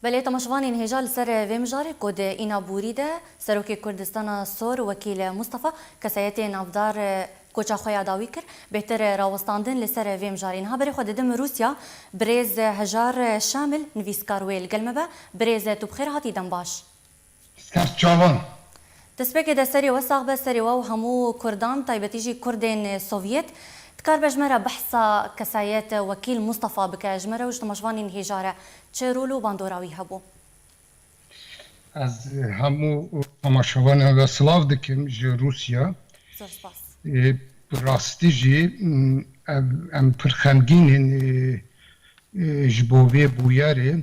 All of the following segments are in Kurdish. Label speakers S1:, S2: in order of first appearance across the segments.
S1: Belê temaşvanên hêja li ser vê mijarê ku di îna bûrî de Serokê Kurdistana Sor Wekîl Mustafa kesayetê navdar koça xwe ya dawî kir, bêtir rawestandin li ser vê mijarê. Niha berê xwe didim Rûsya, birêz Hejar Şamil nivîskar wê li gel me be, birêz tu bi xêr hatî dembaş. Ser çavan. Destpêkê de serê we sax be, serê we û hemû Kurdan, taybetî jî Kurdên Sovyet. Dikar be ji me re behsa kesayet Wekîl Mustafa bike, ji me re û ji tomaşvanên hêja re çi rol û bandora wî hebû? Ez hemû tomaşavanên we silav dikim ji Rûsya. Zor spas. Bi rastî jî em pir xemgîn in ji bo vê bûyerê.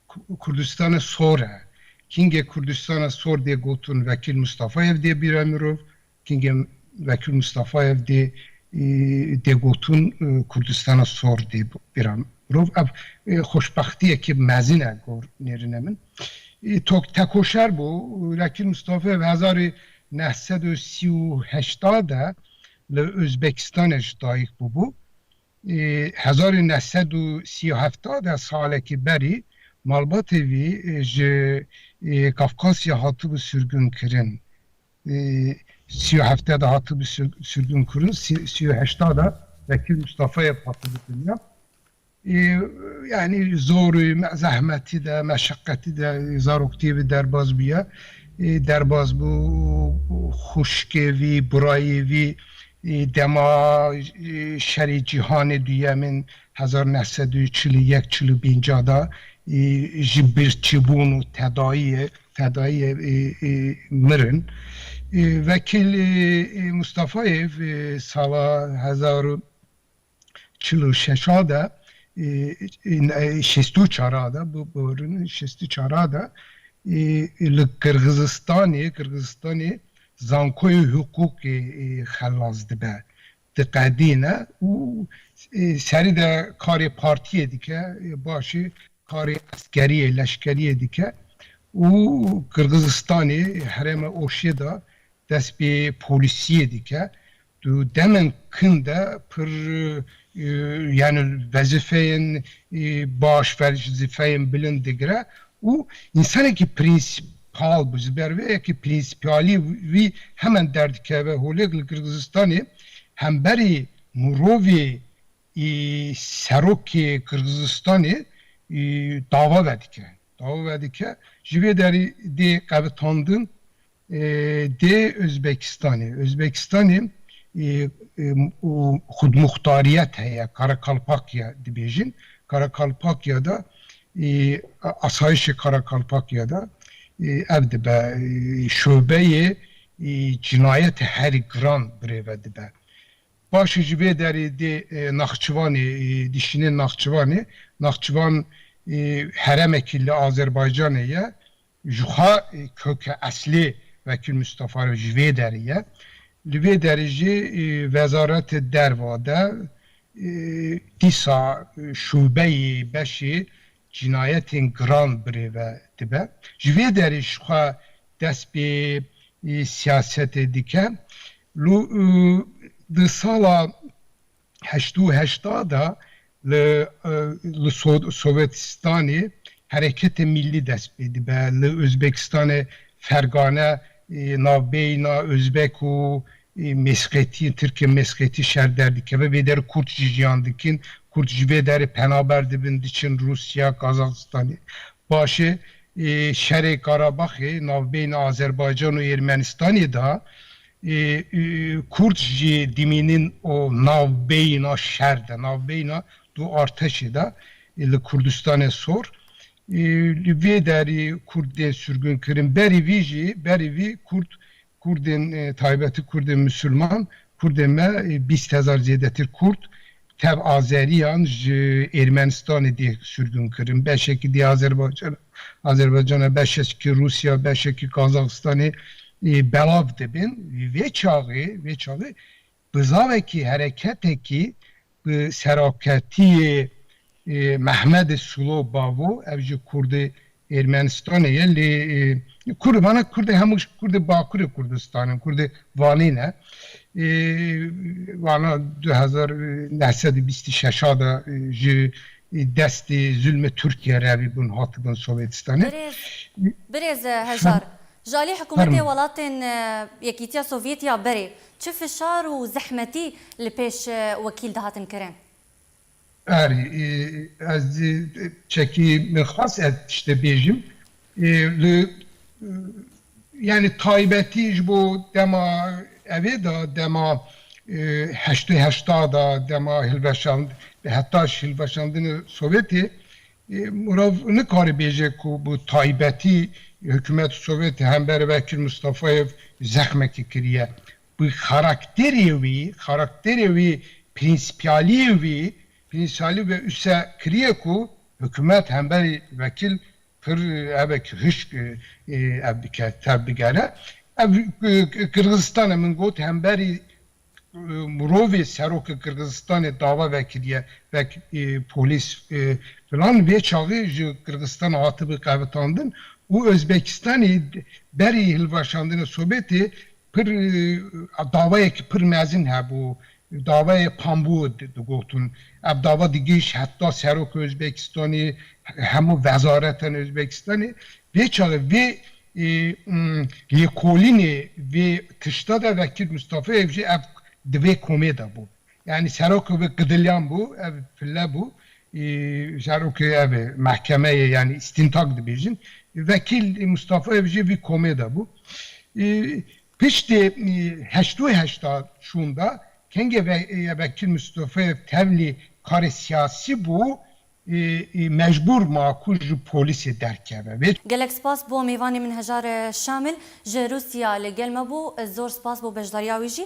S1: Kurdistana Sor e. Kingê Kurdistana Sor dê gotin Vekîl Mistafayev dê bîra mirov, kingê Vekîl Mistafayev dê dê gotin Kurdistana Sor dê bîra mirov. Ev xoşbextiyekî mezin e gor nêrine min. Tok tekoşer bû. Vekîl Mistafayev hezar û neh sed û sî û heşta de li Ozbekistanê ji dayik bûbû. Di hezar û neh sed û sî û hefta de salekî berî malbatê wî ji Kafkasya hatibû sirgûnkirin. Di sî û hefta de hatibû sirgûnkirin, sî û heşta de Bekir Mustafayê hatibû dinya. Yanî zor û zehmetî de, meşeqetî de zaroktiyê wî derbas bûye. Derbas bû û xwişkê wî, birayê wî Dema Şerê Cîhanê Duyem in hezar neh sed û çil û yek çil û pênc a da ji birçîbûn û tedayiyê tedayiyê mirin. Wekîl Mustafayê sala hezar û çil û şeş a de şêst û çar a de şêst û çar a de li Qirgizistanê Qirgizistanê zankoyê hiqûqê xelas dibe diqedîne û serî de karê partiyê dike başê karê eskeriyê leşkeriyê dike û Qirgizistanê herêma Oşê de dest pê polîsiyê dike Tu demên kin de pir yani wezifeyên baş, wezifeyên bilind digire û însanekî prînsîpal bû. Ji ber vê yekê prînsîpalî wî hemen derdikeve holêk li Qirgizistanê hemberî mirovê serokê Qirgizistanê dava vedikire. Dava vedike ji vê derî dê qebitandin Dê Uzbekistanê, Uzbekistanê û xudmuxtariyet heye, Karakalpakya dibêjin, Karakalpakya de asayişê Karakalpakya de ev dibe şobeyê cinayetê herî giran birêve dibe. Paşê ji vê derê dê Naxçivanê, dişînê Naxçivanê, Naxçivan heremekî li Azerbaycanê ye Ji xwe koke eslê Wekîl Mistefa re ji vê derê ye. Li vê derê jî Wezaretê Derva de dîsa şûbeyê beşê cînayetên giran birêve dibe. Ji vê derê ji xwe dest pê siyasetê dike. Li di sala heşt û heşta de li li Sowetistanê hereketê mîllî dest pê dibe, li Ozbekistanê fergane navbeyna Ozbek û Mêsxetî, Tirkê Mêsxetî şer derdikeve, vê derê Kurd jî jiyan dikin, Kurd ji vê derê penaber dibin diçin Rûsya, Kazaxistanê. Paşê şerê Karabaxê navbeyna Azerbaycan û Ermenistanê de Kurd ji dimînin û navbeyina şer de, navbeyina du arteşê de li Kurdistanê sor. Li vê derê Kurd tên sürgûnkirin. Berî vî jî, berî vî Kurd, Kurdên taybeti Kurdên Musulman, Kurdên me bîst hezar zêdetir Kurd Tev Azeriyan ji Êrmenistanê dê sûrgûnkirin. Beşekî dê Azerbaycana, Azerbaycana beşekî Rûsya, beşekî Kazaxistanê belav dibin. Vê çaxê, vê çaxê bizavekî, hereketekî bi serokketiyê Mehmedê Sulo Bavo, ev jî kurdê Ermenistanê ye lê kurd vana kurdê hemû ji kurdê bakurê Kurdistanê in kurdê Vanê ne vana du hezar û neh sed û bîst û şeş a de ji destê zulmê Tirkiye re vê bûn hatibûn Sovetistanê. Birêz birêz hejar ji alî hikûmetê welatên Yekîtiya Sovyetî ya berê çi fişar û zehmetî li pêş wekîl dihatin kirin? Erê, ez çekî min xwest ev tiştê bêjim. Li yanî taybetî ji bo dema evê de, dema heştê heşta de, dema hilweşand heta ji hilweşandina Sowetê mirov nikare bêje ku bi taybetî hikûmeta Sowetê hember vekir Mistefayê zexmekî kiriye. Wî karakterê wî, karakterê wî, prînsîpaliyê wî, prînsîpaliyê wî wisa kiriye ku hikûmet, hemberî wekîl pir hevek hişk ev dike, tev digere. Ev Qirgizistanê min got hemberî mirovê seroka Qirgizistanê dava vekiriye vek polîs filan. Vê çaxê ji Qirgizistana hatibû qevitandin û Ozbekistanê berî hilweşandina Sobetê Pir dawayek pir mezin hebû, dawayê Pambû digotin. Ev dawa digihîşt heta Seroka Ozbekistanê, hemû wezareten Ozbekistanê. Vê çaxê vê lêkolînê vê tişta de Vekîl Mistafayek jî ev di vê komê de bû. Yanî serok bi qidilyan bû, ev pille bû. Serokê ev ê mehkemeyê yanî îstîntak dibêjin. Vekîl Mustafayev jî vî komê de bû. Piştî heşt û heşta çûn de kengê vekîl Mustafayev tevlî karê siyasî bû, mecbûr ma ku ji polîsê derkeve. Vê. Gelek spas bo mêvanê min Hejar Şamil ji Rûsya li gel me bû, zor spas bo beşdariya wî jî.